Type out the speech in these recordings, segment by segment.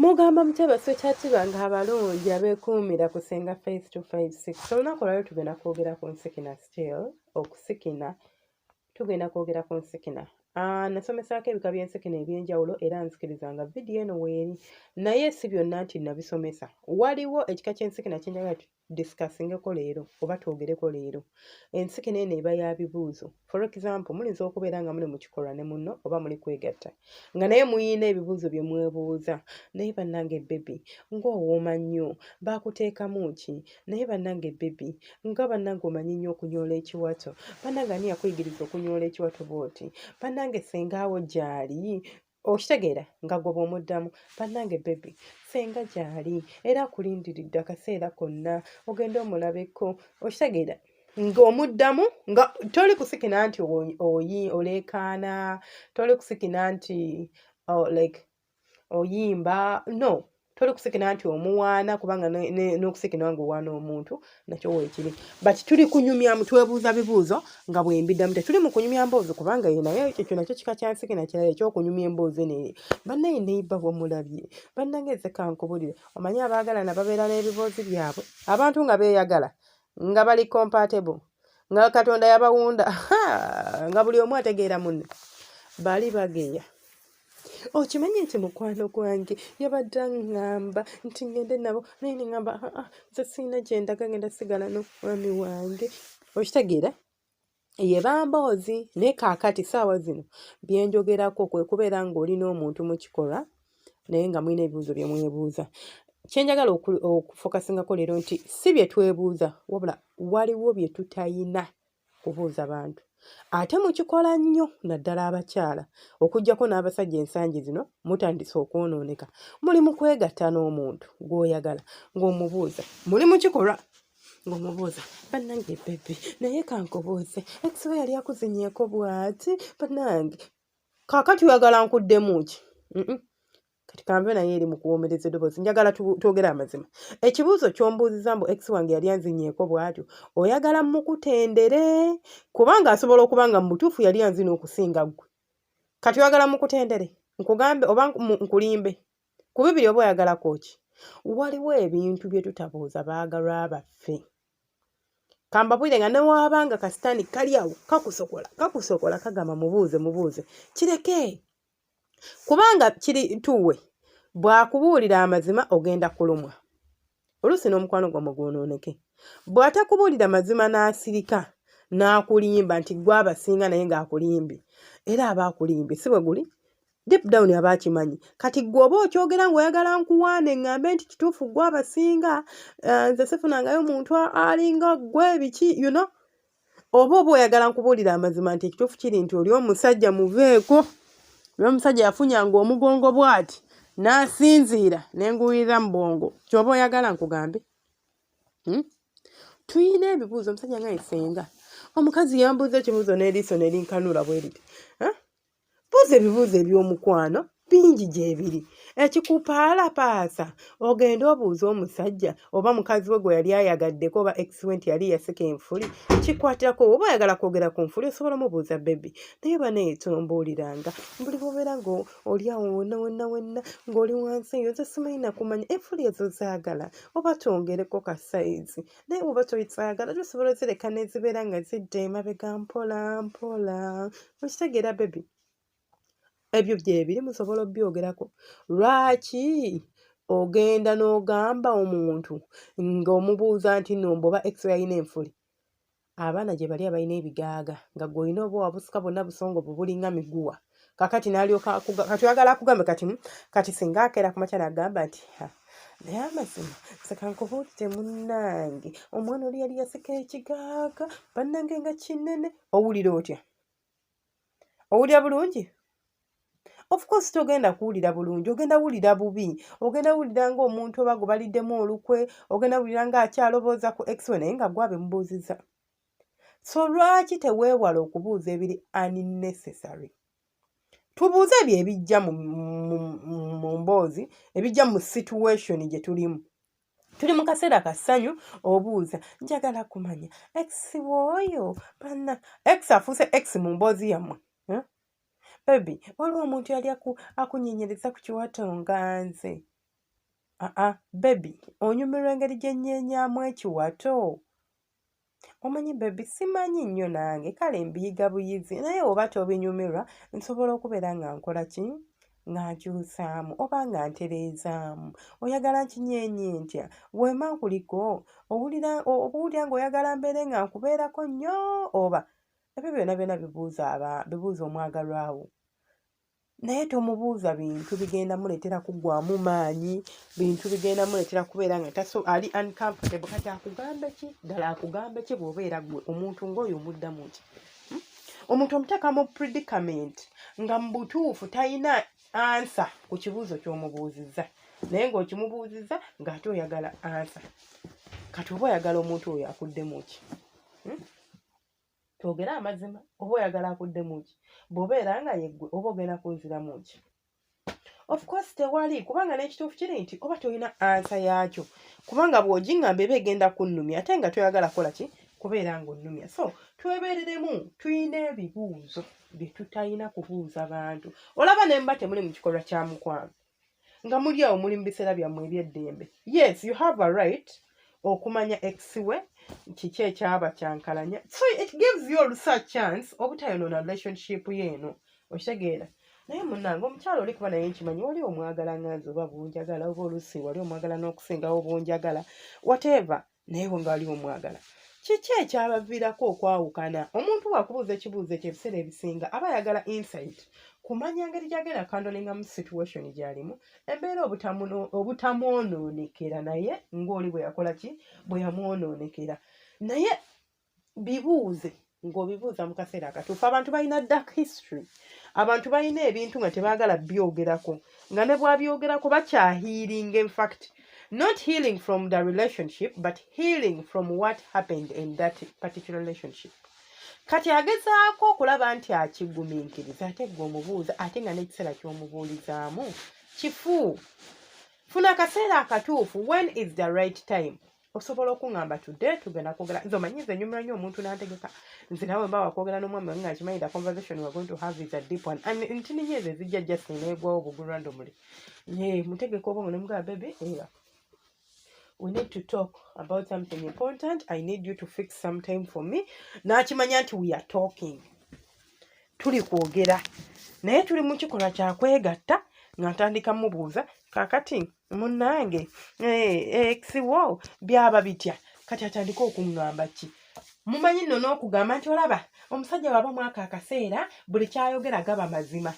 mugamba mutebe sekyatiba nga abalungi abekuumira kusenga face to face six olunaku olwaliro tugenda kwogera ku nsikina still okusikina tugenda kwogera ku nsikina ah, nasomesaako ebika by'ensikina eby'enjawulo era nzikiriza nga vidiyo eno weeri naye si byonna nti nabisomesa waliwo ekika ky'ensikina kyenjagala disikassingeko leero oba twogereko leero ensikina eno eba ya bibuuzo for example muyinza okubeera nga muli mu kikolwa ne munno oba muli kwegatta nga naye muyina ebibuuzo bye mwebuuza naye bannange bebi ng'owooma nnyo baakuteekamu ki naye bannange bebi nga bannange omanyi nnyo okunyoola ekiwato bannange ani yakuyigiriza okunyoola ekiwato bwoti bannange sengaawo gyali okitegeera nga gwe bwomuddamu bannange bebi senga gyali era akulindiridde akaseera konna ogenda omulabeko okitegeera ng'omuddamu nga toli kusikina nti oyi oleekaana toli kusikina nti oh, like oyimba no toli kusikina nti omuwaana kubanga n'okusikina nga owaana omuntu nakyo weekiri but tuli kunyumya mutwebuuza bibuuzo nga bwembiddamu tetuli mu kunyumya mboozi kubanga ye naye ekyo nakyo kika kyansikina kirala ekyokunyumya emboozi neye bannaye neiba wamulabye bannange nze kankubulire omanyi abaagalana babeera n'ebiboozi byabwe abantu nga beeyagala nga bali compatible nga katonda yabawunda nga buli omu ategeera munne bali bageya okimanyi nti mukwano gwange yabadde aŋŋamba nti ngende nabo naye neŋamba ah, ah, nze sirina gyendaga ngenda sigala nomwami wange okitegeera ye bamboozi naye kaakati saawa zino byenjogerako kwe kubeera ng'oli n'omuntu mu kikolwa naye nga mulina ebibuuzo bye mwebuuza kyenjagala okufokasingako leero nti si bye twebuuza wabula waliwo bye tutayina kubuuza bantu ate mukikola nnyo naddala abakyala okugyako n'abasajja ensangi zino mutandise okwonooneka muli mu kwegatta n'omuntu gw'oyagala ng'omubuuza muli mu kikolwa ng'omubuuza bannange bebi naye kankubuuze ekisoba yali akuzinyeeko bwati bannange kakati oyagala nkuddemu ki kati kanve naye eri mu kuwoomereza eddoboozi njagala twogere amazima ekibuuzo ky'ombuuziza mbu ex wange yali anzinyeeko bwatyo oyagala mukutendere kubanga asobola okuba nga mu butuufu yali anzina okusinga ggwe kati oyagala mukutendere nkugambe oba nkulimbe ku bibiri oba oyagalako ki waliwo ebintu bye tutabuuza baagalwa baffe kambabwire nga newaaba nga kasitaani kali awo kakusokola kakusokola kagamba mubuuze mubuuze kireke kubanga kiri tuwe bwakubuulira amazima ogenda kulumwa oluusi n'omukwano gwammwe gwonooneke bw'atakubuulira mazima n'asirika n'akulimba nti gwe abasinga naye ng'akulimbye era aba akulimbye si bwe guli deep down aba akimanyi kati gwe oba okyogera ng'oyagala nkuwaane ng'ambe nti kituufu gwe abasinga eh, nze sifunangayo muntu alinga gwe biki you know oba oba oyagala nkubuulira amazima nti ekituufu kiri nti oli omusajja muveeko oli omusajja yafunyanga omugongo bwati n'asinziira ne nguwulira mu bwongo kyoba oyagala nkugambe hmm? tuyina ebibuuzo omusajja nga yesenga omukazi yambuuza ekibuuzo n'eriiso ne linkanula bwe liti buuza ebibuuzo eby'omukwano bingi gyebiri ekikupaala paasa ogenda obuuza omusajja oba mukazi we gwe yali ayagaddeko oba ekiwe nti yali yasika enfuli kikwatirako oba oyagala kwogera ku nfuli osobola omubuuza bebi naye banaye tombuuliranga buli bobeera nga oli awo wonna wonna wonna ng'oli wansi eyo nze simanyi nakumanya enfuli ezo zaagala oba twongereko ka sayizi naye bwoba toyitwagala tosobola ozireka nezibeera nga zidda emabega mpola mpola okitegeera bebi ebyo byebiri musobola obyogerako lwaki ogenda n'ogamba omuntu ng'omubuuza nti nomba oba extra yina enfuli abaana gye bali abalina ebigaaga nga gwe olina oba wabusuka bonna busongo bubulinga miguwa kakati nalyoka kati oyagala akugambe kati hmm, kati singa akeera ku makya nagamba nti naye amazima sekankubuulire munnange omwana oli yali yasika ekigaaga bannange nga kinene owulira otya owulira bulungi ofcourse togenda kuwulira bulungi ogenda wulira bubi ogenda wulira nga omuntu oba gubaliddemu olukwe ogenda wulira nga akyalobooza ku ex we naye nga gwabe mubuuziza so lwaki teweewala okubuuza ebiri unnecessary tubuuze ebyo ebijja mu mboozi ebijja mu situation gye tulimu tuli mu kaseera ka ssanyu obuuza njagala kumanya ex wooyo banna ex afuuse ex mu mboozi yammwe eh? bebi waliwo omuntu yali akunyenyereza ku kiwato nga nze aa bebi onyumirwa engeri gye nnyeenyamu ekiwato omanyi bebi simanyi nnyo nange kale mbiyiga buyizi naye oba tobinyumirwa nsobola okubeera nga nkola ki nga nkyusaamu oba nga ntereezaamu oyagala nkinyeenye ntya weema nkuliko owulira owulira ng'oyagala mbeere nga nkubeerako nnyo oba ebyo byona byona bibuuza aba bibuuza omwagalwawo naye tomubuuza bintu bigenda muleetera kuggwamu maanyi bintu bigenda muleetera kubeera nga taso ali uncomfortable kati akugambe ki ddala akugambe ki bw'obeera gwe omuntu ng'oyo omuddamu ki hmm? omuntu omuteeka mu predicament nga mu butuufu talina ansa ku kibuuzo ky'omubuuzizza naye ng'okimubuuzizza ng'ate oyagala ansa kati oba oyagala omuntu oyo akuddemu ki hmm? twogere amazima oba oyagala akuddemu ki bwobeera nga yeggwe oba ogenda kunziramu ki of course tewali kubanga n'ekituufu kiri nti oba tolina ansa yaakyo kubanga bw'ogiŋŋamba eba egenda kunnumya ate nga toyagala kukola ki kubeera ng'onnumya so twebeereremu tulina ebibuuzo bye tutalina kubuuza bantu olaba ne mba temuli mu kikolwa kya mukwano nga muli awo muli mu biseera byammwe ebyeddembe yes you have a right okumanya exiwe kiki ekyaba kyankalanya so it gives you olusa chance obutayonoona relationship ye eno okitegeera naye munange omukyalo oli kuba naye nkimanyi wali omwagala nganzi oba bunjagala oba olusi wali omwagala n'okusingawo bunjagala whatever naye nga waliwo omwagala kiki ekyabaviirako okwawukana omuntu wakubuuza ekibuuzo ekyo ebiseera ebisinga aba ayagala insight kumanya ngeri gyagenda kandolinga mu situation gyalimu embeera obutamwonoonekera naye ngaoli bwe yakola ki bwe yamwonoonekera naye bibuuze ng'obibuuza mu kaseera akatuufu abantu balina dark history abantu balina ebintu nga tebaagala byogerako nga ne bwabyogerako bakyahiiring infact not healing from the relationship but healing from what happened in that particular relationship kati agezaako okulaba nti akigumiikiriza ate gwe omubuuza ate nga n'ekiseera ky'omubuulizaamu kifu funa akaseera akatuufu when is the right time osobola okuŋamba today tugenda kwogera nze omanyi nze nyumira nnyo omuntu nantegeka nze nawe mba wakwogera n'omwami wange ngakimanyi the conversation we're going to have is a deep one and ntini nyo ezo ezijja just neegwawo obugulu randomly ye mutegeka obongo nemugaa bebe era we need to talk about something important i need you to fix some time for me nakimanya nti we are talking tuli kwogera naye tuli mu kikolwa kyakwegatta nga ntandika mubuuza kakati munange ekiwo eh, eh, byaba bitya kati atandika okuŋŋamba ki mumanyi nno n'okugamba nti olaba omusajja waba mwaka akaseera buli kyayogera gaba mazima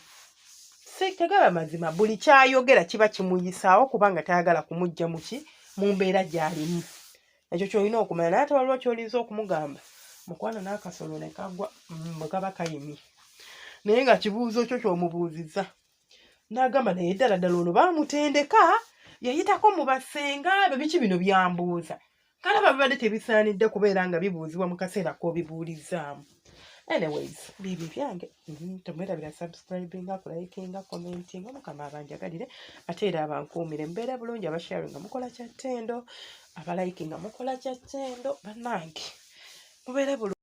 si tegaba mazima buli kyayogera kiba kimuyisaawo kubanga tayagala kumujja muki mu mbeera gy'alimu ekyo kyolina okumanya naye ate waliwo kyolinza okumugamba mukwano n'akasolo ne kagwa mm, bwe kaba kayimye naye nga kibuuzo kyo kyomubuuzizza n'agamba naye ddala ddala ono baamutendeka yayitako mu basenga be biki bino byambuuza kale babibadde tebisaanidde kubeera nga bibuuzibwa mu kaseera k'obibuulizaamu anyways bibi byange mhm, temwerabira subscribinga kulayikinga commentinga mukama abanjagalire ate era abankuumire mbeera bulungi abashari nga mukola kya ttendo abalayiki nga mukola kya ttendo bannange mubeere bulungi